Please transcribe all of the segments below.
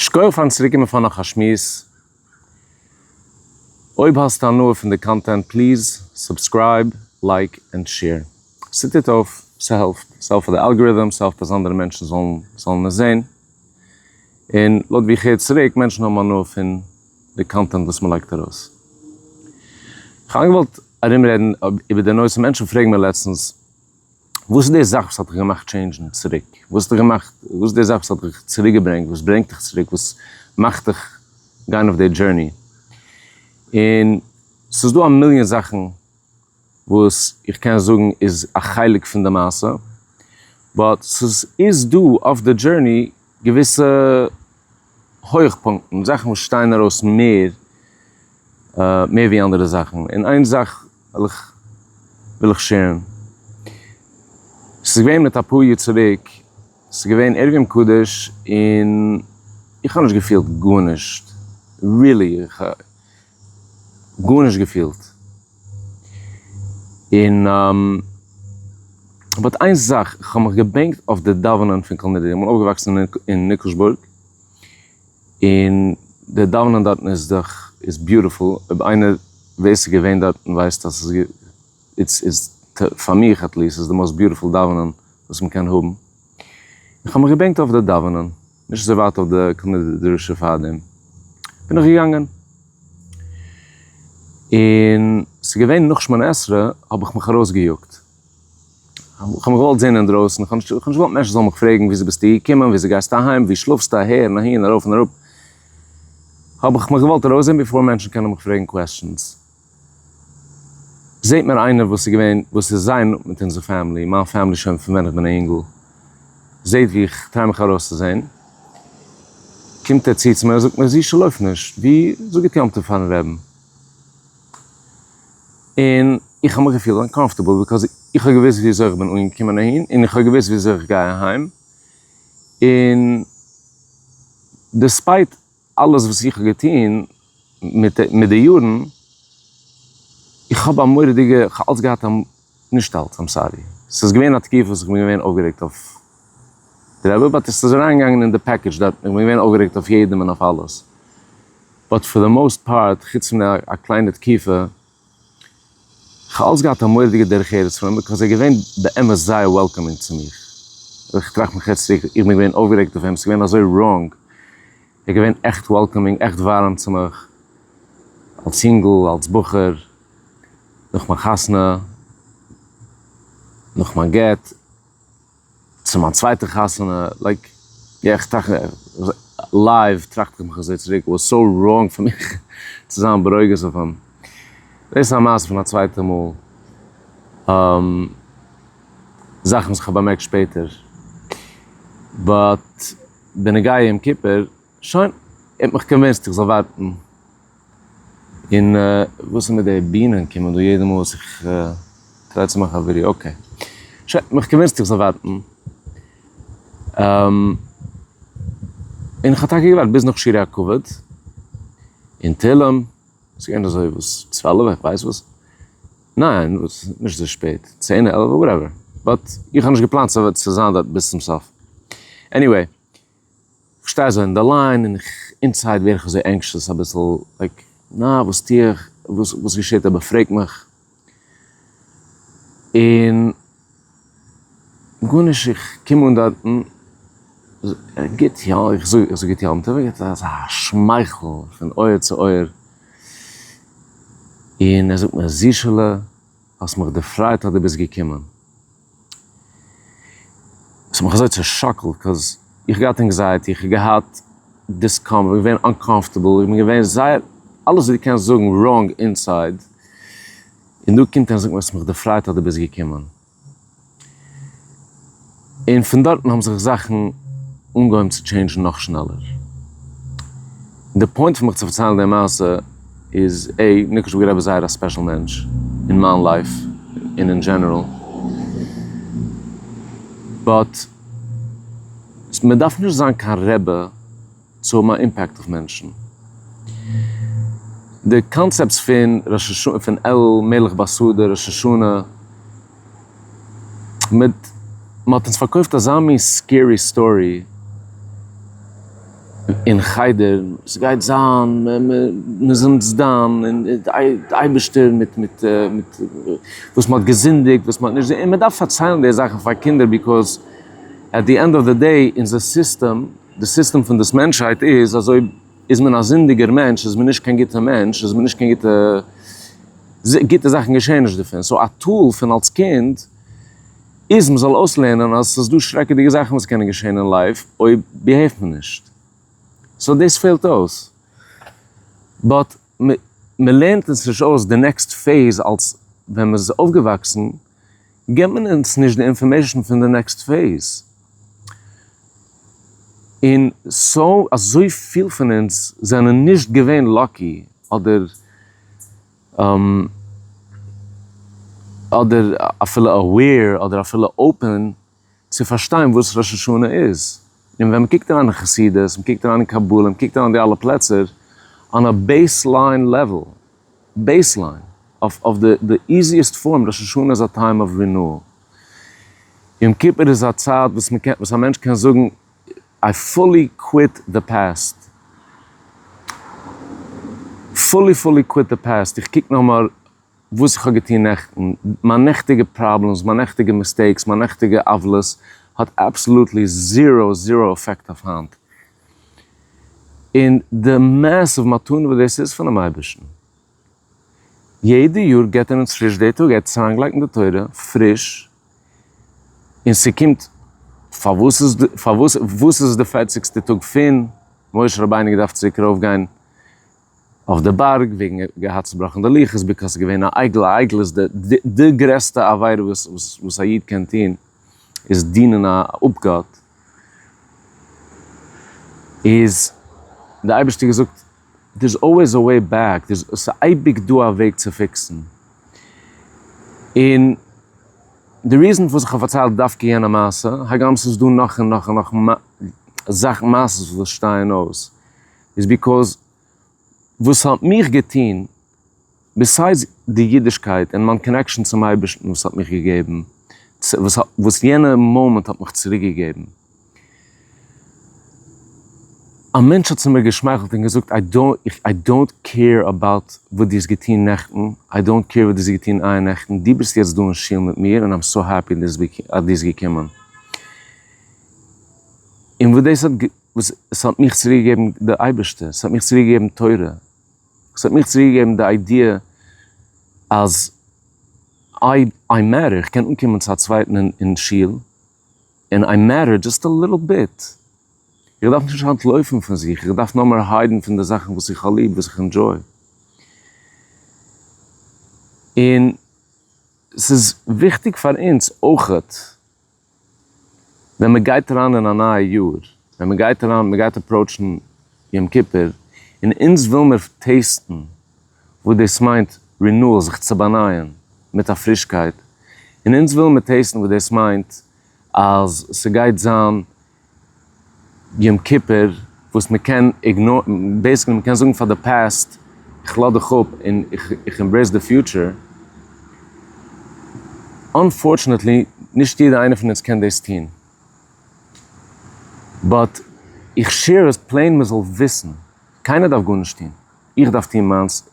שקויעך פארן צוריקקומען פאר נאך א שמועס. אויב האסטו הנאה פון די קאנטענט פליז סובסקרייב, לייק ענד שעיר. ס'טוט אויף, ס'העלפט. ס'העלפט פאר די אלגאריטם, ס'העלפט אז אנדערע מענטשן זאלן עס זען. און לויט ווי איך הער צוריק, מענטשן האבן הנאה פון די קאנטענט וואס מ'לייגט ארויס. כ'האב איינגעוואלט ארומרעדן איבער די נושא, מענטשן פרעגן מיר לעצטנס, וואס איז די זאך וואס האט דיך געמאכט טשעינדזשן צוריק? וואס האט דיך געמאכט, וואס איז די זאך וואס האט דיך צוריק געברענגט, וואס ברענגט דיך צוריק, וואס מאכט דיך גיין אויף די דזשורני? און ס'איז דא א מיליאן זאכן וואס איך קען זאגן איז א חלק פון די מעשה, באט ס'איז דא אויף די דזשורני געוויסע הויכפונקטן, זאכן וואס שטייען ארויס מער מער ווי אנדערע זאכן, און איין זאך וויל איך וויל איך שערן, ס'איז געווען מיט אפאר יאר צוריק, ס'איז געווען ערב יום קדוש און איך האב נישט געפילט גארנישט, רילי. גארנישט געפילט, און באט איין זאך, איך האב מיך געבענקט אויף די דאווענען פון כל נדרי, איך בין אויפגעוואקסן אין ניקלשבורג, און די דאווענען דארטן איז דאך איז ביוטיפול, אויב איינער ווער ס'איז געווען דארטן ווייסט אז ס'איז איז פאר מיך עטליעסט איז די מאוסט ביוטיפול דאווענען וואס מ'קען האבן, איך האב מיך געבענקט אויף די דאווענען. נישט אזוי ווייט אויף די קאנעדע די דרשה פארדעם בין איך געגאנגען, און ס'איז געווען נאך שמונה עשרה האב איך מיך ארויס געיאגט, כ'האב מיך געוואלט זעהן אינדרויסן, כ'האב נישט געוואלט מענטשן זאלן מיך פרעגן וויאזוי ביסטו געקומען, וויאזוי גייסטו אהיים, וואו שלאפסטו, אהער און אהין, ארויף און אראפ, האב איך מיך געוואלט ארויסזעהן בעפאר מענטשן קענען מיך פרעגן קוועסטשענס. זעהט מיר איינער וואס איז געווען וואס איז זייער נאנט מיט אונזער פעמילי, מיין פעמילי שוין פון ווען איך בין א יונגל, זעהט ווי איך טריי מיך ארויסצוזעהן, קומט ער צו צו מיר און זאגט מיר זישע לויף נישט, ווי, זאג גוט יום טוב פארן רעבן. און איך האב מיך געפילט אנקאמפארטעבל ביקאוז איך האב געוואוסט ווי אזוי איך בין אנגעקומען אהין און איך האב געוואוסט ווי אזוי איך גיי אהיים און דיספייט, אלעס וואס איך האב געטון מיט מיט די יארן, איך האב א מורא'דיגע, איך האב אלץ געהאט א, נישט אלץ, איים סארי, ס'איז געווען א תקופה וואס איך בין געווען אויפגערעגט אויף די רבי, באט עס איז אריינגעגאנגען אין די פעקעדזש דארטן, איך בין געווען אויפגערעגט אויף יעדעם און אויף אלעס, באט פאר די מאוסט פארט, חוץ פון א קליינע תקופה, כ'האב אלס געהאט א מורא'דיגע דרך ארץ פון אים ביקאויז ער איז געווען באמת זייער וועלקאמינג צו מיר. איך טראכט מיך יעצט צוריק, איך בין געווען אויפגערעגט אויף אים, ס'איז געווען אזוי ראנג. ער איז געווען עכט וועלקאמינג, עכט ווארעם צו מיך. אלס יונגל, אלס בחור, נאך מיין חתונה, נאך מיין גט. צו מיין צווייטע חתונה, לייק, יא איך טראכט לייוו טראכט איך מיך אזוי צוריק, וואס סאו ראנג פון מיך צו זיין ברוגז אויף אים? דאס איז א מעשה פון א צווייטע מאל, זאכן וואס כ'האב באמערקט שפעטער, באט בנוגע יום כיפור, שוין, ער האט מיך קאנווינסט איך זאל ווארטן. און וואס איז מיט די בינען קומען דא יעדע מאל וואס איך טריי צו מאכן א ווידעא אקעי שוין האב איך געוויסט איך זאל ווארטן און איך האב טאקע געווארט ביז נאך שירי הכבוד און תהילים ס'איז געווען אזוי וואס צוועלף איך ווייס וואס ניין וואס נישט אזוי שפעט צען עלף וואטעווער באט איך האב נישט געפלאנט צו זיין דארט ביז צום סוף עניוועי כ'שטיי אזוי אין די ליין און איך אינסייד ווער איך אזוי ענקשעס אביסל לייק נא וואס טוה איך וואס וואס געשעט אויב ער פרעגט מיך און גארנישט איך קום אן דארטן גוט יא איך זאג איך זאג גוט יום טוב ער געט אזא שמייכל פון אויער צו אויער און ער זאגט מיר זישעלע האסט מיך דערפרייט אז דו ביסט געקומען. ס'האט מיך אזוי צעשאקלט קאוז איך געהאט ענקזייעטי איך האב געהאט דיסקאמפארט איך בין געווען אנקאמפארטעבל איך בין געווען זייער אלעס וואס דו קענסט זאגן ראנג אינסייד און דא קומט ער און זאגט מיר אז ס'האט מיך דערפרייט אז דו ביסט געקומען און פון דארטן האבן זיך זאכן אנגעהויבן צו טשעינדזשן נאך שנעלער. די פוינט פון מיך צו פארציילן די מעשה איז, א. ניקוש בער רבי איז זייער א ספעשל מענטש אין מיין לייף און אין דזשענעראל. באט מען דארף נישט זיין קיין רבי צו האבן א אימפעקט אויף מענטשן. די קאנצעפטס פון ראש השנה, פון אלימלך באסאדער ראש השנה. מיט מ'האט אונז פארקויפט אזא מין סקערי סטארי אין חדר, ס'גייט זיין מ'איז אונז דן און די אייבערשטער מיט מיט מיט וואס מ'האט געזינדיגט וואס מ'האט נישט און מ'דארף פארציילן די זאכן פאר קינדער ביקאוז עט די ענד אוו די דעי אונזער סיסטעם, די סיסטעם פון דאס מענטשהייט איז אזוי. איז מען א זינדיגער מענטש, איז מען נישט קיין גוטע מענטש, איז מען נישט קיין גוטע, גוטע זאכן געשעהן נישט דערפון, סאו א טול פון אלס קינד איז מען זאל אויסלערנען אז עס איז דא שרעקעדיגע זאכן וואס קענען געשעהן אין לייף אויב ביהעיווט מען נישט, סאו דאס פעלט אויס, באט מען לערנט אונז נישט אויס די נעקסט פעיז אלס ווען מען איז אויפגעוואקסן. געבט מען אונז נישט די אינפארמעישן פון די נעקסט פעיז, און סאו אזויפיל פון אונז זענען נישט געווען לאקי אדער אדער אפילו אוועיר אדער אפילו אופען. צו פארשטיין וואס ראש השנה איז, און ווען מ'קוקט אריין אין חסידות, מ'קוקט אריין אין קבלה, מ'קוקט אריין אין די אלע פלעצער, אן א בעיס ליין לעוועל, בעיס ליין, אויף די די איזיעסט פארם, ראש השנה איז א טיים אוו רינועל. יום כיפור איז א צייט וואס מ'קען, וואס א מענטש קען זאגן, איי פולי קוויט די פעסט, פולי פולי קוויט די פעסט, איך קוק נאכמער וואס איך האב געטון נעכטן, מיין נעכטיגע פראבלעמס, מיין נעכטיגע מיסטעיקס, מיין נעכטיגע עוולות, האט אבסאלוטלי זירא זירא אפעקט אויף היינט. און די מעסיוו מתנה וואס דאס איז פונעם אייבערשטן. יעדע יאר געט ער אונז פריש די טאג, ער האט עס אריינגעלייגט אין די תורה פריש, און ס'קומט, פארוואס איז די, פארוואס, וואס איז די פערציגסטע טאג פון משה רבינו געדארפט צוריק ארויפגיין אויף די בארג וועגן ער האט געהאט צובראכן די לוחות ביקאוס ער איז געווען א עגל, א עגל איז די די די גרעסטע עבירה וואס וואס וואס א איד קען טון איז דינען א אפגאט, איז די אייבערשטער געזאגט דער'ס אלוועיס א וועי בעק דער'ס ס'איז אייביג דא א וועג צו פיקסן, און די ריזען פארוואס איך האב פארציילט דווקא יענע מעשה, הגם ס'איז דא נאך און נאך און נאך זאכן מעשה'ס וואס שטייען אויס. איז ביקאוז וואס ס'האט מיך געטון, ביסיידס די אידישקייט און מיין קאנעקשאן צום אייבערשטן וואס ס'האט מיך געגעבן, וואס יענע מאמענט האט מיך צוריק געגעבן. א מענטש האט צו מיר געשמייכלט און געזאגט, איי דאונט קעיר אבאוט וואס דו האסט געטון נעכטן, איי דאונט קעיר וואס דו האסט געטון איה נעכטן, דו ביסט יעצט דא אין שול מיט מיר און איים סאו העפי אז דו ביסט געקומען. און וואס דאס האט. וואס עס האט מיך צוריק געגעבן די אייבערשטער, עס האט מיך צוריק געגעבן תורה, עס האט מיך צוריק געגעבן די איידיע אז אויב איי מעטער איך קען אנקומען צו א צווייטן אין שול, און איי מעטער דזשאסט א ליטל ביט, איך דארף נישט אנטלויפן פון זיך, איך דארף נאר מער היידן פון די זאכן וואס איך האב ליב, וואס איך ענדזשוי. און עס איז וויכטיג פאר אונז אויכעט. ווען מען גייט אריין אין א נייע יאר, ווען מען גייט אריין, מען גייט אפראוטשן יום כיפור, און אונז וויל מיר טעסטן וואס דאס מיינט רינועל, זיך צו באנייען מיט א פרישקייט, און אונז וויל מיר טעסטן וואס דאס מיינט אז ס'גייט זיין יום כיפור וואס מען קען איגנארן, בעיסיקלי מען קען זאגן פאר די פּאסט איך לאז דיך אפ און איך עמברעיס די פיוטשער. אנפארטשענעטלי נישט יעדער איינער פון אונז קען דאס טון, באט איך שעיר עס פלעין מען זאל וויסן, קיינער דארף גארנישט טון, איך דארף טון מיינס,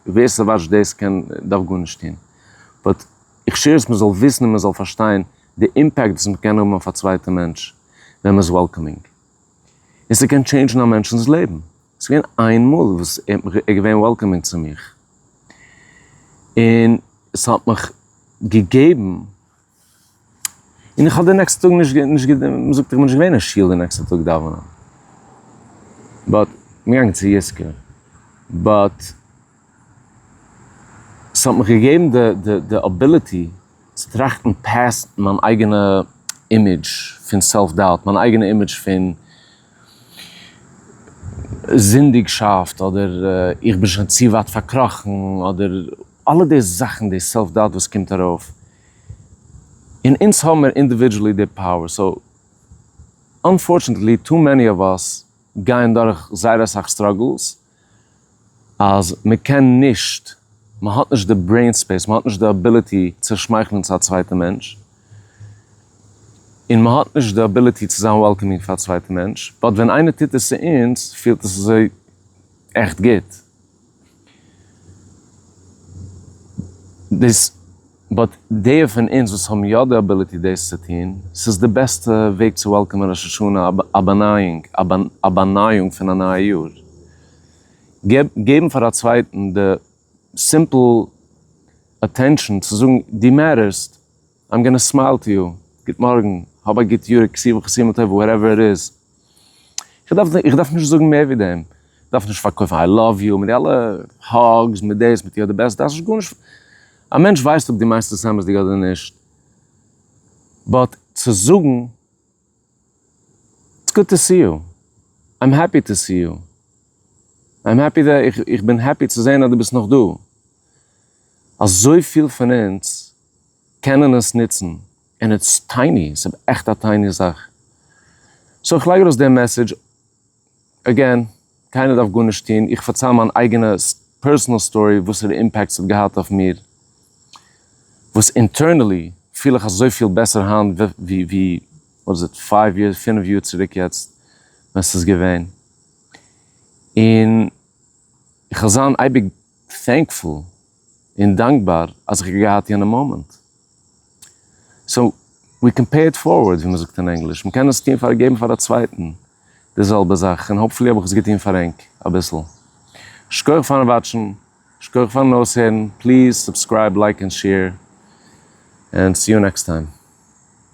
ווער ס'וואטשט דאס קען דארף גארנישט טון, באט איך שעיר עס מען זאל וויסן און מען זאל פארשטיין די אימפעקט וואס מען קען האבן אויף א צווייטע מענטש ווען מען איז וועלקאמינג, און ס'קען טשעינדזשן א מענטשנ'ס לעבן, ס'איז געווען איין מאל וואס ער האט מיך, ער איז געווען וועלקאמינג צו מיך, און ס'האט מיך געגעבן, און איך האב די נעקסטע טאג נישט, מען זאגט איך בין נישט געווען אין שול די נעקסטע טאג דאווענען, באט, כ'בין געגאנגען צו יזכור, באט. ס'האט מיך געגעבן די די די אביליטי צו טראכטן פעסט מיין אייגענע אימעדזש פון סעלף דאוט, מיין אייגענע אימעדזש פון זינדיגשאפט, אדער איך בין שוין צו ווייט פארקראכן, אדער אלע די זאכן די סעלף דאוט וואס קומט ארויף, און אונז האמיר אינדיווידזשעלי די פאוער, סאו אנפארטשענעטלי טו מעני אוו אס גייען דורך זייער אסאך סטראגעלס, אז מען קען נישט, מען האט נישט די ברעין ספעיס, מען האט נישט די אביליטי צו שמייכלען צו א צווייטע מענטש, און מען האט נישט די אביליטי צו זיין וועלקאמינג פאר א צווייטע מענטש, באט ווען איינער טוט עס צו אונז פילט עס אזוי עכט גוט. באט די פון אונז וואס האבן יא די אביליטי דאס צו טון, ס'איז די בעסטע וועג צו וועלקאמען ראש השנה, א באנייאונג, א באנייאונג פון א נייע יאר. געבן פאר א צווייטן די סימפל אטענשאן צו זאגן דו מעטערסט, איים גאנא סמייל טו יו, גוט מארגן, האב א גוט יאר, כסא וכסימא טובה, וואטעווער איט איז, איך דארף נישט זאגן מער ווי דעם, איך דארף נישט פארקויפן איי לאוו יו מיט די אלע האגס מיט דאס מיט יו אר די בעסט, דארף נישט גארנישט, א מענטש ווייסט אויב דו מיינסט עס אמת'דיג אדער נישט, באט צו זאגן, איטס גוד טו סי יו, איים העפי טו סי יו, איים העפי דעט, איך בין העפי צו זען אז דו ביסט נאך דא, אזויפיל פון אונז קענען עס נוצן. און איטס טייני, ס'איז עכט א טייני זאך. סאו איך לייג ארויס די מעסעדזש, עגעין, קיינער דארף גארנישט טון, איך פארצייל מיין אייגענע פערסענעל סטארי וואסערע אימפעקט ס'האט געהאט אויף מיר, וואס אינטערנעלי פיל איך אזויפיל בעסער היינט ווי ווי וואט איז איט פייוו יערס, פינף יאר צוריק יעצט ווען ס'איז געווען, און איך וועל זיין אייביג טענקפול. און דאנקבאר אז איך האב געהאט יענע מאמענט. סאו, ווי קען פעי איט פארווארד ווי מ'זאגט אין ענגליש. מ'קען עס טון פאר געבן פאר א צווייטן די זעלבע זאך, און האפפולי האב איך עס געטון פאר ענק אביסל. שכוח פארן וואטשן, שכוח פארן אויסהערן, פליז סובסקרייב לייק און שעיר, און סי יו נעקסט טיים.